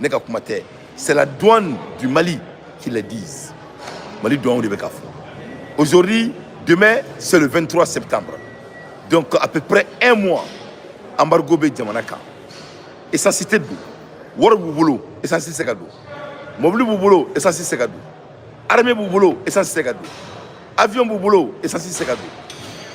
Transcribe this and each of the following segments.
ne ka kuma tɛ c'est la douane du mali qui le disent mali douane de bɛ k'a fɔ aujourd'hui demain c'est le 23 septembre donc à peu près un mois embargo bɛ jamana kan essence tɛ don wari b'u bolo essence tɛ se ka don mobili b'u bolo essence tɛ se ka don armée b'u bolo essence tɛ se ka don avion b'u bolo essence tɛ se ka don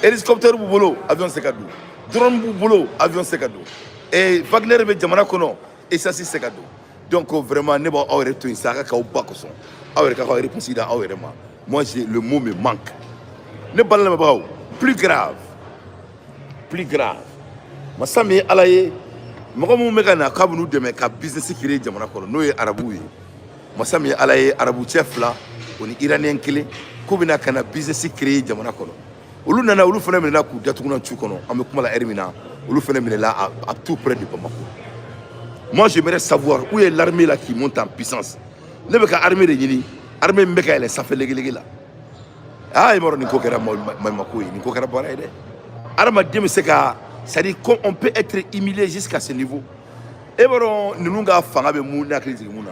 hélicoptère b'u bolo avion tɛ se ka don drone b'u bolo avion tɛ se ka don ee wagner bɛ jamana kɔnɔ essence tɛ se ka don donc vraiment ne b'aw yɛrɛ to yen sa a ka k'aw ba kosɔn aw yɛrɛ ka k'aw réponse da aw yɛrɛ ma moi j'ai le mot me manque ne balima lamɛnbagaw plus grave plus grave masa min ye ala ye mɔgɔ minnu bɛ ka na k'u bɛn'u dɛmɛ ka business créer jamana kɔnɔ n'o ye arabuw ye masa min ye ala ye arabu cɛ fila o ni iraniyɛn kelen k'u bɛna ka na business créer jamana kɔnɔ olu nana olu fana minɛna k'u datugunan tu kɔnɔ an bɛ kuma la heure min na olu fana minɛla à, à tout près de Bamako moi j'aimerais savoir où est l'armée là qui monte en puissance ne bɛ ka armée de ɲini armée min bɛ ka yɛlɛ sanfɛ legelege la aa i b'a dɔn nin ko kɛra maɲumako ye nin ko kɛra baara ye dɛ adamaden bɛ se ka c'est à dire qu'on on peut être humilié jusqu'à ce niveau e b'a dɔn ninnu ka fanga bɛ mun ne hakili jigin mun na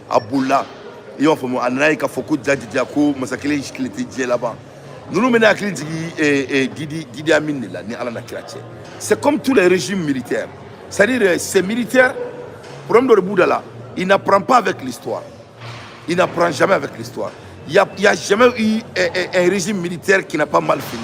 a bolila i b'a faamu a nana ye k'a fɔ ko jaa jaa ko masa kelen tile tɛ diɲɛ laban ninnu bɛ ne hakili jigin eh, eh, didi didi amin de la ni ala na kira cɛ c'est comme tous les régimes militaires c'est à dire eh, ces militaires problème dɔ de b'u da la il n'apprend pas avec l'histoire il n'apprend jamais avec l'histoire il y a, il y a jamais eu eh, eh, un régime militaire qui n'a pas mal fini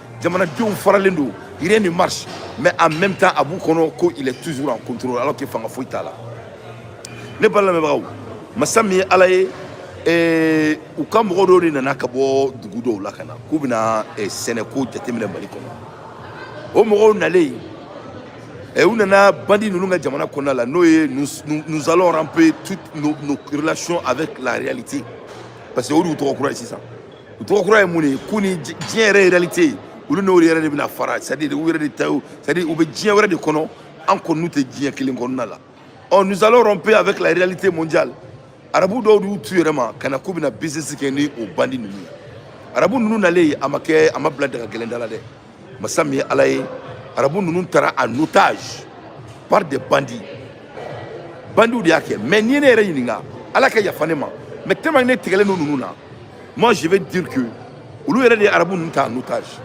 jamanadenw faralen don rien ne marche mais en même temps a b'u kɔnɔ ko il est toujours en contrôle alors que fanga foyi t'a la ne balima lamɛnbagaw masa min ye ala ye eh, u ka mɔgɔ dɔw de nana ka bɔ dugu dɔw la ka na k'u bɛna eh, sɛnɛko jateminɛ mali kɔnɔ o mɔgɔw nalen eh, u nana bandi ninnu ka jamana kɔnɔna la n'o ye nous, nous, nous allons romper toutes nos, nos relations avec la réalité parce que o de y'u tɔgɔ kura ye sisan u tɔgɔ kura ye mun de ye k'u ni diɲɛ yɛrɛ ye réalité ye olu n'o yɛrɛ de bɛna fara c'est à dire u yɛrɛ de ta ye c'est à dire u bɛ diɲɛ wɛrɛ de kɔnɔ an kɔni n'u tɛ diɲɛ kelen kɔnɔna la ɔ nous allons romper avec la réalité mondiale arabu dɔw de y'u t'u yɛrɛ ma ka na k'u bɛna business kɛ ni o bandi ninnu ye arabu ninnu nalen a ma kɛ a ma bila daga gɛlɛn da la dɛ masa min ye ala ye arabu ninnu tara en otage par des bandits bandiw de y'a kɛ mais n'i ye ne yɛrɛ ɲininka ala ka yafa ne ma mais tellement ne tigɛlen don ninnu na moi je vais dire que olu yɛrɛ de ye arabu ninnu ta en otage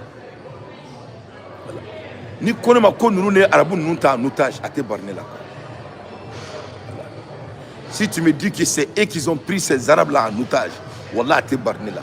n'i ko ne ma ko ninnu de ye arabu ninnu ta en otage a tɛ bari ne la si tu me dis que c'est eux qui ont pris ces arabes là en otage wallah a tɛ bari ne la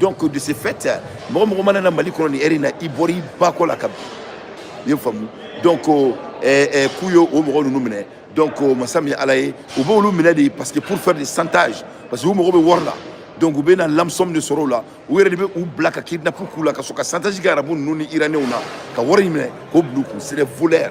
donc de ce fait mɔgɔ mɔgɔ mana na mali kɔnɔ nin ɛri in na i bɔra i ba kɔ la ka bin i y'a faamu donc eh, k'u ye o mɔgɔ ninnu minɛ donc masa min ye ala ye u b'olu minɛ de parce que pour faire des chantage parce que u mago bɛ wari la donc u bɛ na rançon de sɔrɔ o la u yɛrɛ de bɛ u bila ka kidnapu k'u la ka sɔrɔ ka chantage kɛ arabu ninnu ni iranenw na ka wari in minɛ k'o bila u kun c'est des voleurs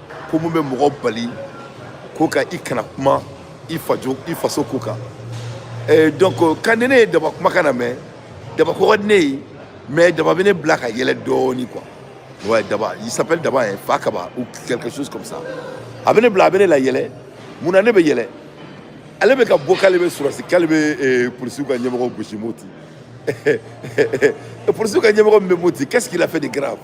ko mun bɛ mɔgɔ bali ko ka i kana kuma i fajo i faso ko kan eh, donc quand ni ne ye daba kumakan mɛn daba ko ka di ne ye mais daba bɛ ne bila ka yɛlɛ dɔɔni quoi ouais daba il s'appelle daba eh fakaba ou quelque chose comme ça a bɛ ne bila a bɛ ne layɛlɛ mun na ne bɛ yɛlɛ ale bɛ ka bɔ k'ale bɛ sɔrɔsi k'ale bɛ eh, polisiw ka ɲɛmɔgɔ gosi moti polisiw ka ɲɛmɔgɔ min bɛ moti qu'est ce qu'il a fait de grave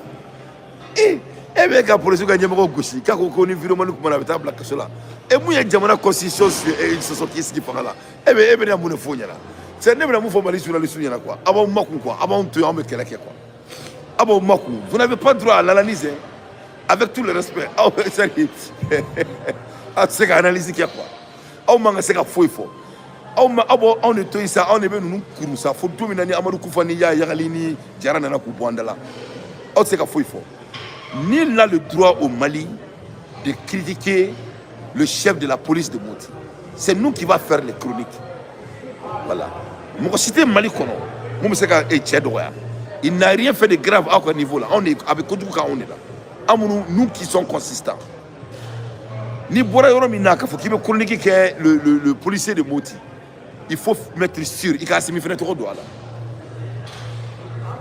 e e bɛ ka polisiw ka ɲɛmɔgɔ gosi k'a ko ko ni vraiment i kumana a bɛ taa bila kaso la e min ye jamana constitution sɔsɔ k'i sigi fanga la e bɛ e bɛna mun de f'o ɲɛna c'est ne bɛna mun fɔ mali journaliste ɲɛna quoi a b'aw makun quoi a b'anw to yen anw bɛ kɛlɛ kɛ quoi a b'aw makun vous n'avez pas droit à l'analyse avec tout le respect aw c'est à dire a tɛ se ka analyse kɛ quoi aw man ka se ka foyi fɔ aw ma aw b'anw de to yen sa anw de bɛ ninnu kuru sa fo don min na ni amadu kufa ni iyad ag ghali ni jara nana k'u bɔ an da la aw tɛ se ka foyi fɔ nul n'a le droit au mali de critiquer le chef de la police de moti c'est nous qui va faire les chroniques voilà mɔgɔ si tɛ mali kɔnɔ min bɛ se ka e cɛ dɔgɔya il n'a rien fait de grave aw ka niveau la anw de a bɛ kojugu k'anw de la anw minnu nous qui sont consistants n'i bɔra yɔrɔ min na k'a fɔ k'i bɛ chronique kɛ le le le policier de Moti il faut mettre sûr i ka Asimi fɛnɛ tɔgɔ don a la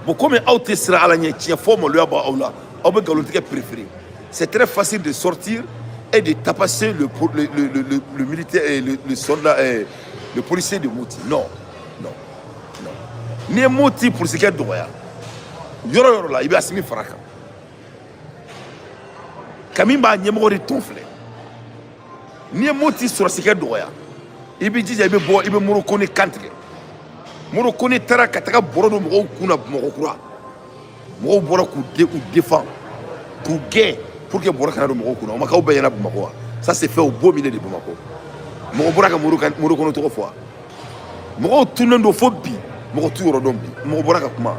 bon komi aw tɛ siran ala ɲɛ tiɲɛ fɔ maloya b'aw la aw bɛ nkalontigɛ préféré c'est très facile de sortir et de tabasser le le le le le militaire eh, le le soldat eh, le policier de Moti non non non n'i ye Moti polisikɛ dɔgɔya yɔrɔ yɔrɔ la i bɛ Asimi fara a kan. kami b'a ɲɛmɔgɔ de tɔn filɛ n'i ye moti sɔrɔsikɛ dɔgɔya i b'i jija i bɛ bɔ i bɛ moro kone kan tigɛ moro kone taara ka taga bɔrɔ don mɔgɔw kun na bamakɔ kura mɔgɔw bɔra k'u de k'u defan k'u gɛn pour que bɔrɔ kana don mɔgɔw kun na o ma k'aw bɛɛ ɲɛna bamakɔ wa ça s'est fait au beau milieu de bamakɔ mɔgɔ bɔra ka moro kan moro kone tɔgɔ fɔ wa mɔgɔw tunnen don fo bi mɔgɔ t'u yɔrɔ dɔn bi mɔgɔ bɔra ka kuma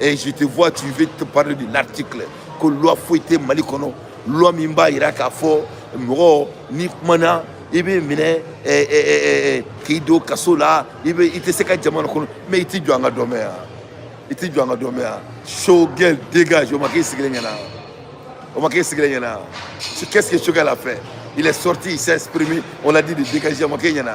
Et je te vois, tu veux te parler de l'article ko loi foyi tɛ Mali kɔnɔ, loi min b'a yira k'a fɔ mɔgɔ n'i kumana i bɛ minɛ eh, eh, eh, k'i don kaso la i bɛ i tɛ se ka jamana kɔnɔ mais i t'i jɔ an ka dɔ mɛn yan i t'i jɔ an ka dɔ mɛn yan Choguel dégage o ma k'i sigilen ɲɛna o ma k'i sigilen ɲɛna qu'est-ce que Choguel a fait il est sorti il s'est exprimé on l'a dit de dégager o ma k'i ɲɛna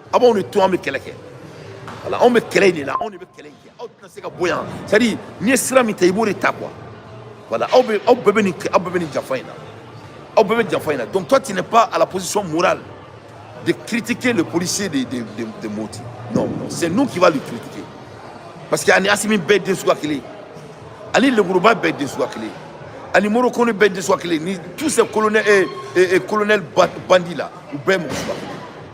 aw b'anw de to an bɛ kɛlɛ kɛ voilà anw bɛ kɛlɛ in de la anw de bɛ kɛlɛ in kɛ aw tɛna se ka bɔ yan c'est à dire n'i ye sira min ta i b'o de ta quoi voilà aw bɛ aw bɛɛ bɛ nin aw bɛɛ bɛ nin janfa in na aw bɛɛ bɛ janfa in na donc toi tu n'es pas à la position morale de critiquer le policier de de de, de Moti non non c'est nous qui va le critiquer parce que ani Asimi bɛɛ den suguya kelen ye ani lemuruba bɛɛ den suguya kelen ye ani morokoni bɛɛ den suguya kelen ye ni tous ces colonels et, et, et colonels ba- bandits là u bɛɛ ye mɔgɔ suguya kelen ye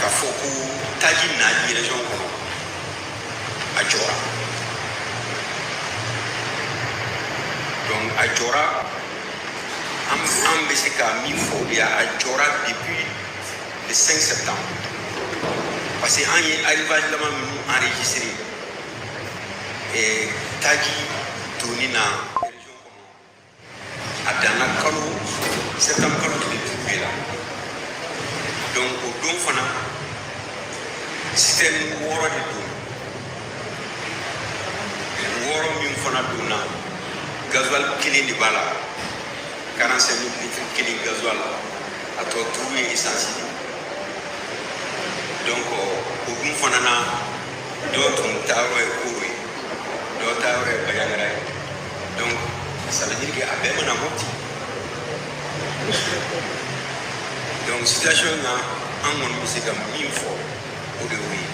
Ka fɔ ko taji na région kɔnɔ a jɔra donc a jɔra an an bɛ se ka min fɔ o de y'a a jɔra depuis le 5 septembre parce que an ye arrivage laban minnu enregistré taji donni na a danna kalo septembre kalo tile duuru de la donc o don fana citerne wɔɔrɔ de don wɔɔrɔ min fana donna gazuwali kelen de b'a la 45 000 litres kelen gazuwal a tɔ duuru ye esansi de donc o dun fana na dɔ tun taayɔrɔ ye Koro ye dɔ taayɔrɔ ye Bajangara ye donc ça veut dire que a bɛɛ ma na Mopti donc situation na an kɔni bɛ se ka min fɔ o de y'o ye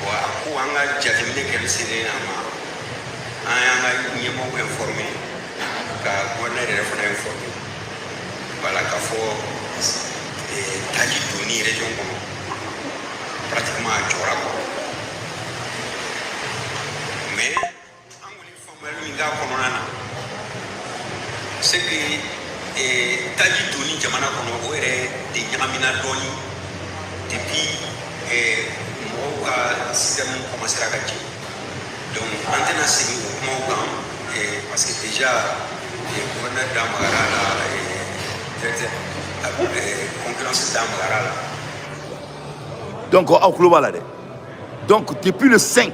wa a ko an ka jateminɛ kɛli selen a ma an y'an ka ɲɛmɔgɔ informé ka gouverneur yɛrɛ fana informé voilà k'a fɔ eh, taji donni région kɔnɔ pratiquement a jɔra quoi an kɔni faamuyali min k'a kɔnɔna na c'est que eh, taji donni jamana kɔnɔ o yɛrɛ de ɲagamina dɔɔni depuis eh, mɔgɔw ka citerne commencera ka jeni donc an tɛna segin o kumaw kan eh, parce que déjà eh, gouverneur da magara a la eh, directeur eh, concurrence da magara a la donc aw kulo b'a la dɛ donc depuis le 5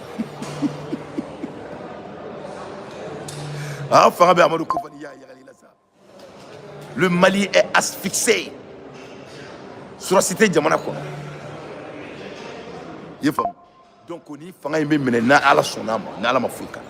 Ah, le Mali est asphyxié sɔrɔ si tɛ jamana kɔnɔ i y'a faamu donc ni fanga in bɛ minɛ n'ala sɔnn'a ma n'ala ma foyi k'a la